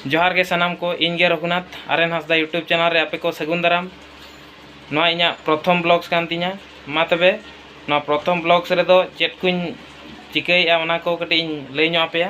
ᱡᱚᱦᱟᱨ ᱜᱮ ᱥᱟᱱᱟᱢ ᱠᱚ ᱤᱧ ᱜᱮ ᱨᱚᱜᱷᱩᱱᱟᱛᱷ ᱟᱨᱮᱱ ᱦᱟᱸᱥᱫᱟ ᱤᱭᱩᱴᱩᱵᱽ ᱪᱮᱱᱮᱞ ᱨᱮ ᱟᱯᱮ ᱠᱚ ᱥᱟᱹᱜᱩᱱ ᱫᱟᱨᱟᱢ ᱱᱚᱣᱟ ᱤᱧᱟᱹᱜ ᱯᱨᱚᱛᱷᱚᱢ ᱵᱞᱚᱜᱽᱥ ᱠᱟᱱ ᱛᱤᱧᱟᱹ ᱢᱟ ᱛᱚᱵᱮ ᱱᱚᱣᱟ ᱯᱨᱚᱛᱷᱚᱢ ᱵᱞᱚᱜᱽᱥ ᱨᱮᱫᱚ ᱪᱮᱫ ᱠᱚᱧ ᱪᱤᱠᱟᱹᱭᱮᱫᱼᱟ ᱚᱱᱟ ᱠᱚ ᱠᱟᱹᱴᱤᱡ ᱤᱧ ᱞᱟᱹᱭ ᱧᱚᱜ ᱟᱯᱮᱭᱟ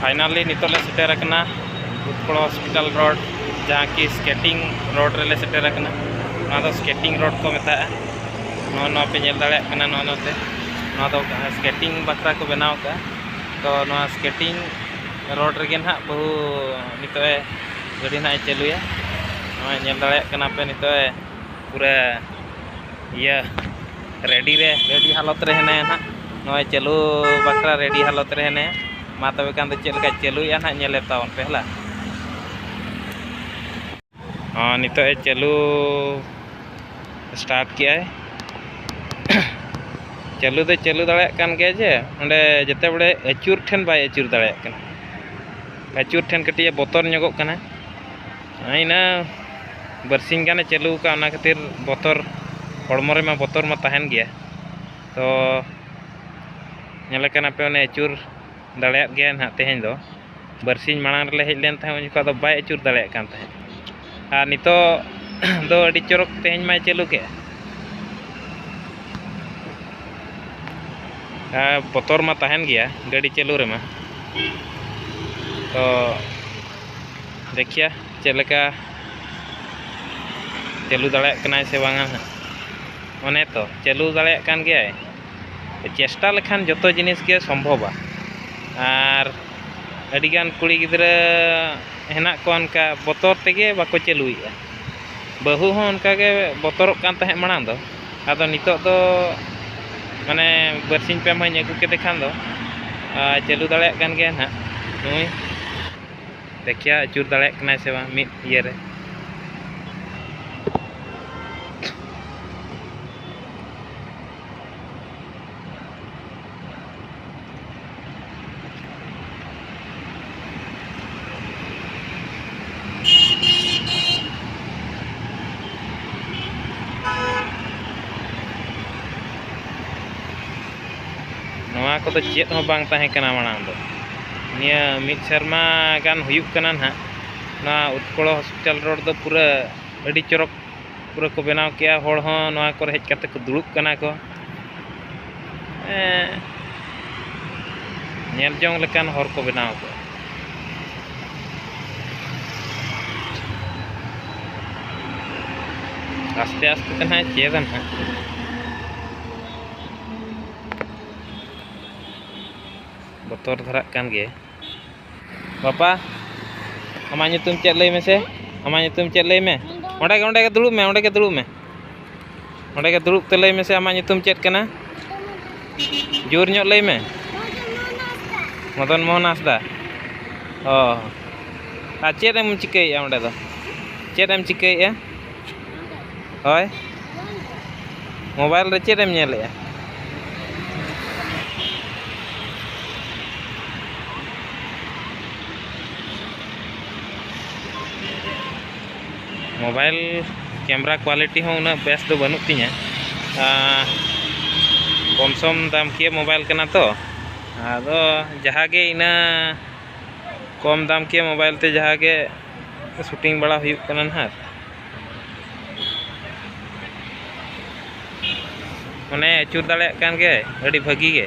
ᱯᱷᱟᱭᱱᱟᱞᱤ ᱱᱤᱛᱚᱜ ᱞᱮ ᱥᱮᱴᱮᱨ ᱟᱠᱟᱱᱟ ᱵᱩᱫᱽᱯᱚᱲᱟ ᱦᱚᱥᱯᱤᱴᱟᱞ ᱨᱳᱰ ᱡᱟᱦᱟᱸ ᱠᱤ ᱥᱠᱮᱴᱤᱝ ᱨᱳᱰ ᱨᱮᱞᱮ ᱥᱮᱴᱮᱨ ᱟᱠᱟᱱᱟ ᱱᱚᱣᱟ ᱫᱚ ᱥᱠᱮᱴᱤᱝ ᱨᱳᱰ ᱠᱚ ᱢᱮᱛᱟᱜᱼᱟ ᱱᱚᱣᱟ ᱱᱚᱣᱟ ᱯᱮ ᱧᱮᱞ ᱫᱟᱲᱮᱭᱟᱜ ᱠᱟᱱᱟ ᱱᱚᱣᱟ ᱱᱚᱛᱮ ᱱᱚᱣᱟ ᱫᱚ ᱥᱠᱮᱴᱤᱝ ᱵᱟᱠᱷᱨᱟ ᱠᱚ ᱵᱮᱱᱟᱣ ᱠᱟᱜᱼᱟ ᱛᱚ ᱱᱚᱣᱟ ᱥᱠᱮᱴᱤᱝ ᱨᱳᱰ ᱨᱮᱜᱮ ᱱᱟᱦᱟᱜ ᱵᱟᱹᱦᱩ ᱱᱤᱛᱚᱜ ᱮ ᱜᱟᱹᱰᱤ ᱱᱟᱦᱟᱜ ᱮ ᱪᱟᱹᱞᱩᱭᱟ ᱱᱚᱣᱟ ᱧᱮᱞ ᱫᱟᱲᱮᱭᱟᱜ ᱠᱟᱱᱟ ᱯᱮ ᱱᱤᱛᱚᱜ ᱮ ᱯᱩᱨᱟᱹ ᱤᱭᱟᱹ ᱨᱮᱰᱤ ᱨᱮ ᱨᱮᱰᱤ ᱦᱟᱞᱚᱛ ᱨᱮ ᱦᱮᱱᱟᱭᱟ ᱱᱟᱦᱟᱜ ᱱᱚᱜᱼᱚᱭ ᱪᱟᱹᱞᱩ ᱵᱟᱠᱷᱨᱟ ᱨᱮᱰᱤ ᱦᱟᱞᱚᱛ ᱨᱮ ᱦᱮᱱᱟᱭᱟ ᱢᱟ ᱛᱚᱵᱮ ᱠᱷᱟᱱ ᱫᱚ ᱪᱮᱫ ᱞᱮᱠᱟ ᱪᱟᱹᱞᱩᱭᱮᱫᱼᱟ ᱱᱟᱦᱟᱜ ᱧᱮᱞᱮ ᱛᱟᱵᱚᱱ ᱯᱮ ᱦᱮᱞᱟ ᱦᱚᱸ ᱱᱤᱛᱚᱜ ᱮ ᱪᱟᱹᱞᱩ ᱥᱴᱟᱨᱴ ᱠᱮᱜᱼᱟᱭ ᱪᱟᱹᱞᱩ ᱫᱚ ᱪᱟᱹᱞᱩ ᱫᱟᱲᱮᱭᱟᱜ ᱠᱟᱱ ᱜᱮᱭᱟ ᱡᱮ ᱚᱸᱰᱮ ᱡᱮᱛᱮ ᱵᱟᱲᱮ ᱟᱹᱪᱩᱨ ᱴᱷᱮᱱ ᱵᱟᱭ ᱟᱹᱪᱩᱨ ᱫᱟᱲᱮᱭᱟᱜ ᱠᱟᱱᱟ ᱟᱹᱪᱩᱨ ᱴᱷᱮᱱ ᱠᱟᱹᱴᱤᱡ ᱮ ᱵᱚᱛᱚᱨ ᱧᱚᱜᱚᱜ ᱠᱟᱱᱟ ᱤᱱᱟᱹ ᱵᱟᱨᱥᱤᱧ ᱜᱟᱱᱮ ᱪᱟᱹᱞᱩ ᱟᱠᱟᱫ ᱚᱱᱟ ᱠᱷᱟᱹᱛᱤᱨ ᱵᱚᱛᱚᱨ ᱦᱚᱲᱢᱚ ᱨᱮᱢᱟ ᱵᱚᱛᱚᱨ ᱢᱟ ᱛᱟᱦᱮᱱ ᱜᱮᱭᱟ ᱛᱚ ᱧᱮᱞᱮ ᱠᱟᱱᱟᱯᱮ ᱚᱱᱮ ᱟᱹᱪᱩᱨ ᱫᱟᱲᱮᱭᱟᱫ ᱜᱮᱭᱟᱭ ᱱᱟᱦᱟᱜ ᱛᱮᱦᱮᱧ ᱫᱚ ᱵᱟᱨᱥᱤᱧ ᱢᱟᱲᱟᱝ ᱨᱮᱞᱮ ᱦᱮᱡ ᱞᱮᱱ ᱛᱟᱦᱮᱸᱫ ᱩᱱ ᱡᱚᱠᱷᱟᱡ ᱫᱚ ᱵᱟᱭ ᱟᱹᱪᱩᱨ ᱫᱟᱲᱮᱭᱟᱜ ᱠᱟᱱ ᱛᱟᱦᱮᱸᱫ ᱟᱨ ᱱᱤᱛᱚᱜ ᱫᱚ ᱟᱹᱰᱤ ᱪᱚᱨᱚᱠ ᱛᱮᱦᱮᱧ ᱢᱟᱭ ᱪᱟᱹᱞᱩ ᱠᱮᱫ ᱵᱚᱛᱚᱨ ᱢᱟ ᱛᱟᱦᱮᱱ ᱜᱮᱭᱟ ᱜᱟᱹᱰᱤ ᱪᱟᱹᱞᱩ ᱨᱮᱢᱟ ᱛᱚ ᱫᱮᱠᱷᱤᱭᱟ ᱪᱮᱫ ᱞᱮᱠᱟ ᱪᱟᱹᱞᱩ ᱫᱟᱲᱮᱭᱟᱜ ᱠᱟᱱᱟᱭ ᱥᱮ ᱵᱟᱝᱟ ᱦᱟᱸᱜ ᱚᱱᱮ ᱛᱚ ᱪᱟᱹᱞᱩ ᱫᱟᱲᱮᱭᱟᱜ ᱠᱟᱱ ᱜᱮᱭᱟᱭ ᱪᱮᱥᱴᱟ ᱞᱮᱠᱷᱟᱱ ᱡᱚᱛᱚ ᱡᱤᱱᱤᱥ ᱜᱮ ᱥᱚᱢᱵᱷᱚᱵᱟ ᱟᱨ ᱟᱹᱰᱤᱜᱟᱱ ᱠᱩᱲᱤ ᱜᱤᱫᱽᱨᱟᱹ ᱦᱮᱱᱟᱜ ᱠᱚᱣᱟ ᱚᱱᱠᱟ ᱵᱚᱛᱚᱨ ᱛᱮᱜᱮ ᱵᱟᱠᱚ ᱪᱟᱹᱞᱩᱭᱮᱜᱼᱟ ᱵᱟᱹᱦᱩ ᱦᱚᱸ ᱚᱱᱠᱟᱜᱮ ᱵᱚᱛᱚᱨᱚᱜ ᱠᱟᱱ ᱛᱟᱦᱮᱸᱫ ᱢᱟᱲᱟᱝ ᱫᱚ ᱟᱫᱚ ᱱᱤᱛᱚᱜ ᱫᱚ ᱢᱟᱱᱮ ᱵᱟᱨᱥᱤᱧ ᱯᱮ ᱢᱟᱦᱟᱧ ᱟᱹᱜᱩ ᱠᱮᱫᱮ ᱠᱷᱟᱱ ᱫᱚ ᱪᱟᱹᱞᱩ ᱫᱟᱲᱮᱭᱟᱜ ᱠᱟᱱ ᱜᱮᱭᱟ ᱱᱟᱦᱟᱜ ᱱᱩᱭ ᱫᱮᱠᱷᱮᱭᱟ ᱟᱹᱪᱩᱨ ᱫᱟᱲᱮᱭᱟᱜ ᱠᱟᱱᱟᱭ ᱥᱮ ᱵᱟᱝ ᱢᱤᱫ ᱤᱭᱟᱹ ᱨᱮ ᱱᱚᱣᱟ ᱠᱚᱫᱚ ᱪᱮᱫ ᱦᱚᱸ ᱵᱟᱝ ᱛᱟᱦᱮᱸ ᱠᱟᱱᱟ ᱢᱟᱲᱟᱝ ᱫᱚ ᱱᱤᱭᱟᱹ ᱢᱤᱫ ᱥᱮᱨᱢᱟ ᱜᱟᱱ ᱦᱩᱭᱩᱜ ᱠᱟᱱᱟ ᱱᱟᱦᱟᱜ ᱱᱚᱣᱟ ᱩᱛᱠᱚᱲᱚ ᱦᱚᱥᱯᱤᱴᱟᱞ ᱨᱳᱰ ᱫᱚ ᱯᱩᱨᱟᱹ ᱟᱹᱰᱤ ᱪᱚᱨᱚᱠ ᱯᱩᱨᱟᱹ ᱠᱚ ᱵᱮᱱᱟᱣ ᱠᱮᱜᱼᱟ ᱦᱚᱲ ᱦᱚᱸ ᱱᱚᱣᱟ ᱠᱚᱨᱮ ᱦᱮᱡ ᱠᱟᱛᱮ ᱠᱚ ᱫᱩᱲᱩᱵ ᱠᱟᱱᱟ ᱠᱚ ᱧᱮᱞ ᱡᱚᱝ ᱞᱮᱠᱟᱱ ᱦᱚᱨ ᱠᱚ ᱵᱮᱱᱟᱣ ᱠᱟᱜᱼᱟ ᱟᱥᱛᱮ ᱟᱥᱛᱮ ᱛᱮ ᱱᱟᱦᱟᱜ ᱪᱮᱫᱟ ᱱᱟᱦᱟᱜ ᱵᱚᱛᱚᱨ ᱫᱷᱟᱨᱟᱜ ᱠᱟᱱ ᱜᱮᱭᱟ ᱵᱟᱯᱟ ᱟᱢᱟᱜ ᱧᱩᱛᱩᱢ ᱪᱮᱫ ᱞᱟᱹᱭ ᱢᱮᱥᱮ ᱟᱢᱟᱜ ᱧᱩᱛᱩᱢ ᱪᱮᱫ ᱞᱟᱹᱭ ᱢᱮ ᱚᱸᱰᱮ ᱜᱮ ᱚᱸᱰᱮ ᱜᱮ ᱫᱩᱲᱩᱵ ᱢᱮ ᱚᱸᱰᱮ ᱜᱮ ᱫᱩᱲᱩᱵ ᱢᱮ ᱚᱸᱰᱮ ᱜᱮ ᱫᱩᱲᱩᱵ ᱛᱮ ᱞᱟᱹᱭ ᱢᱮᱥᱮ ᱟᱢᱟᱜ ᱧᱩᱛᱩᱢ ᱪᱮᱫ ᱠᱟᱱᱟ ᱡᱳᱨ ᱧᱚᱜ ᱞᱟᱹᱭ ᱢᱮ ᱢᱚᱫᱚᱱ ᱢᱳᱦᱚᱱ ᱦᱟᱸᱥᱫᱟ ᱚ ᱟᱨ ᱪᱮᱫ ᱮᱢ ᱪᱤᱠᱟᱹᱭᱮᱫᱼᱟ ᱚᱸᱰᱮ ᱫᱚ ᱪᱮᱫ ᱮᱢ ᱪᱤᱠᱟᱹᱭᱮᱫᱼᱟ ᱦᱳᱭ ᱢᱳᱵᱟᱭᱤᱞ ᱨᱮ ᱪᱮᱫ ᱮᱢ ᱧᱮᱞᱮᱜᱼᱟ ᱢᱳᱵᱟᱭᱤᱞ ᱠᱮᱢᱮᱨᱟ ᱠᱳᱣᱟᱞᱤᱴᱤ ᱦᱚᱸ ᱩᱱᱟᱹᱜ ᱵᱮᱥ ᱫᱚ ᱵᱟᱹᱱᱩᱜ ᱛᱤᱧᱟᱹ ᱠᱚᱢ ᱥᱚᱢ ᱫᱟᱢ ᱠᱤᱭᱟᱹ ᱢᱳᱵᱟᱭᱤᱞ ᱠᱟᱱᱟ ᱛᱚ ᱟᱫᱚ ᱡᱟᱦᱟᱸ ᱜᱮ ᱤᱱᱟᱹ ᱠᱚᱢ ᱫᱟᱢ ᱠᱤᱭᱟᱹ ᱢᱳᱵᱟᱭᱤᱞ ᱛᱮ ᱡᱟᱦᱟᱸ ᱜᱮ ᱥᱩᱴᱤᱝ ᱵᱟᱲᱟ ᱦᱩᱭᱩᱜ ᱠᱟᱱᱟ ᱦᱟᱸᱜ ᱢᱟᱱᱮ ᱟᱹᱪᱩᱨ ᱫᱟᱲᱮᱭᱟᱜ ᱠᱟᱱ ᱜᱮᱭᱟᱭ ᱟᱹᱰᱤ ᱵᱷᱟᱹᱜᱤ ᱜᱮ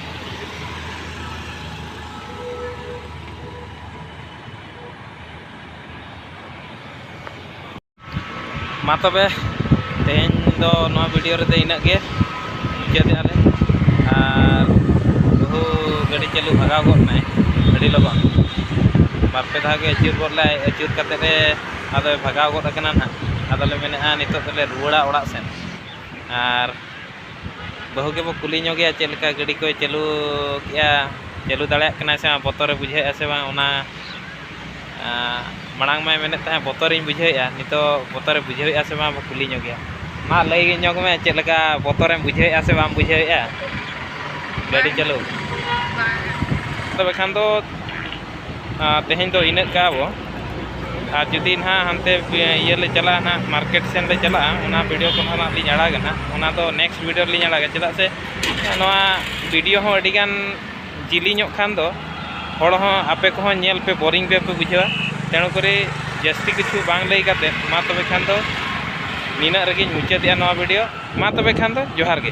ᱢᱟ ᱛᱚᱵᱮ ᱛᱮᱦᱮᱧ ᱫᱚ ᱱᱚᱣᱟ ᱵᱷᱤᱰᱤᱭᱳ ᱨᱮᱫᱚ ᱤᱱᱟᱹᱜ ᱜᱮ ᱢᱩᱪᱟᱹᱫᱮᱜᱼᱟ ᱞᱮ ᱟᱨ ᱵᱟᱹᱦᱩ ᱜᱟᱹᱰᱤ ᱪᱟᱹᱞᱩ ᱵᱷᱟᱜᱟᱣ ᱜᱚᱫ ᱱᱟᱭ ᱟᱹᱰᱤ ᱞᱚᱜᱚᱱ ᱵᱟᱨᱯᱮ ᱫᱷᱟᱣ ᱜᱮ ᱟᱹᱪᱩᱨ ᱜᱚᱫ ᱞᱮ ᱟᱹᱪᱩᱨ ᱠᱟᱛᱮ ᱞᱮ ᱟᱫᱚᱭ ᱵᱷᱟᱜᱟᱣ ᱜᱚᱫ ᱟᱠᱟᱱᱟ ᱱᱟᱦᱟᱜ ᱟᱫᱚᱞᱮ ᱢᱮᱱᱮᱫᱼᱟ ᱱᱤᱛᱚᱜ ᱫᱚᱞᱮ ᱨᱩᱣᱟᱹᱲᱟ ᱚᱲᱟᱜ ᱥᱮᱫ ᱟᱨ ᱵᱟᱹᱦᱩ ᱜᱮᱵᱚ ᱠᱩᱞᱤ ᱧᱚᱜᱮᱭᱟ ᱪᱮᱫ ᱞᱮᱠᱟ ᱜᱟᱹᱰᱤ ᱠᱚᱭ ᱪᱟᱹᱞᱩ ᱠᱮᱜᱼᱟ ᱪᱟᱹᱞᱩ ᱫᱟᱲᱮᱭᱟᱜ ᱠᱟᱱᱟᱭ ᱥᱮ ᱵᱟᱝ ᱵᱚᱛᱚᱨᱮ ᱵᱩᱡᱷᱟᱹᱣᱮᱜᱼᱟ ᱥᱮ ᱵᱟᱝ ᱚᱱᱟ ᱢᱟᱲᱟᱝ ᱢᱟᱭ ᱢᱮᱱᱮᱫ ᱛᱟᱦᱮᱸᱫ ᱵᱚᱛᱚᱨᱤᱧ ᱵᱩᱡᱷᱟᱹᱣᱮᱜᱼᱟ ᱱᱤᱛᱚᱜ ᱵᱚᱛᱚᱨᱮ ᱵᱩᱡᱷᱟᱹᱣᱮᱜᱼᱟ ᱥᱮ ᱵᱟᱝ ᱵᱚ ᱠᱩᱞᱤ ᱧᱚᱜᱮᱭᱟ ᱢᱟ ᱞᱟᱹᱭ ᱧᱚᱜᱽ ᱢᱮ ᱪᱮᱫ ᱞᱮᱠᱟ ᱵᱚᱛᱚᱨᱮᱢ ᱵᱩᱡᱷᱟᱹᱣᱮᱜᱼᱟ ᱥᱮ ᱵᱟᱢ ᱵᱩᱡᱷᱟᱹᱣᱮᱜᱼᱟ ᱜᱟᱹᱰᱤ ᱪᱟᱹᱞᱩ ᱛᱚᱵᱮ ᱠᱷᱟᱱ ᱫᱚ ᱛᱮᱦᱮᱧ ᱫᱚ ᱤᱱᱟᱹᱜ ᱠᱟᱜᱼᱟ ᱵᱚᱱ ᱟᱨ ᱡᱩᱫᱤ ᱱᱟᱦᱟᱜ ᱦᱟᱱᱛᱮ ᱤᱭᱟᱹ ᱞᱮ ᱪᱟᱞᱟᱜᱼᱟ ᱱᱟᱦᱟᱜ ᱢᱟᱨᱠᱮᱴ ᱥᱮᱫ ᱞᱮ ᱪᱟᱞᱟᱜᱼᱟ ᱚᱱᱟ ᱵᱷᱤᱰᱤᱭᱳ ᱠᱚ ᱱᱟᱦᱟᱜ ᱞᱤᱧ ᱟᱲᱟᱜᱟ ᱱᱟᱦᱟᱜ ᱚᱱᱟ ᱫᱚ ᱱᱮᱠᱥᱴ ᱵᱷᱤᱰᱤᱭᱳ ᱨᱮᱞᱤᱧ ᱟᱲᱟᱜᱟ ᱪᱮᱫᱟᱜ ᱥᱮ ᱱᱚᱣᱟ ᱵᱷᱤᱰᱤᱭᱳ ᱦᱚᱸ ᱟᱹᱰᱤ ᱜᱟᱱ ᱡᱤᱞᱤᱧᱚᱜ ᱠᱷᱟᱱ ᱫᱚ ᱦᱚᱲ ᱦᱚᱸ ᱟᱯᱮ ᱠᱚᱦᱚᱸ ᱧᱮᱞ ᱯᱮ ᱵᱳᱨᱤᱝ ᱜᱮᱯᱮ ᱵᱩᱡᱷᱟᱹᱣᱟ ᱛᱮᱬᱩ ᱠᱚᱨᱮ ᱡᱟᱹᱥᱛᱤ ᱠᱤᱪᱷᱩ ᱵᱟᱝ ᱞᱟᱹᱭ ᱠᱟᱛᱮᱫ ᱢᱟ ᱛᱚᱵᱮ ᱠᱷᱟᱱ ᱫᱚ ᱱᱤᱱᱟᱹᱜ ᱨᱮᱜᱮᱧ ᱢᱩᱪᱟᱹᱫᱮᱜᱼᱟ ᱱᱚᱣᱟ ᱵᱷᱤᱰᱤᱭᱳ ᱢᱟ ᱛᱚᱵᱮ ᱠᱷᱟᱱ ᱫᱚ ᱡᱚᱦᱟᱨ ᱜᱮ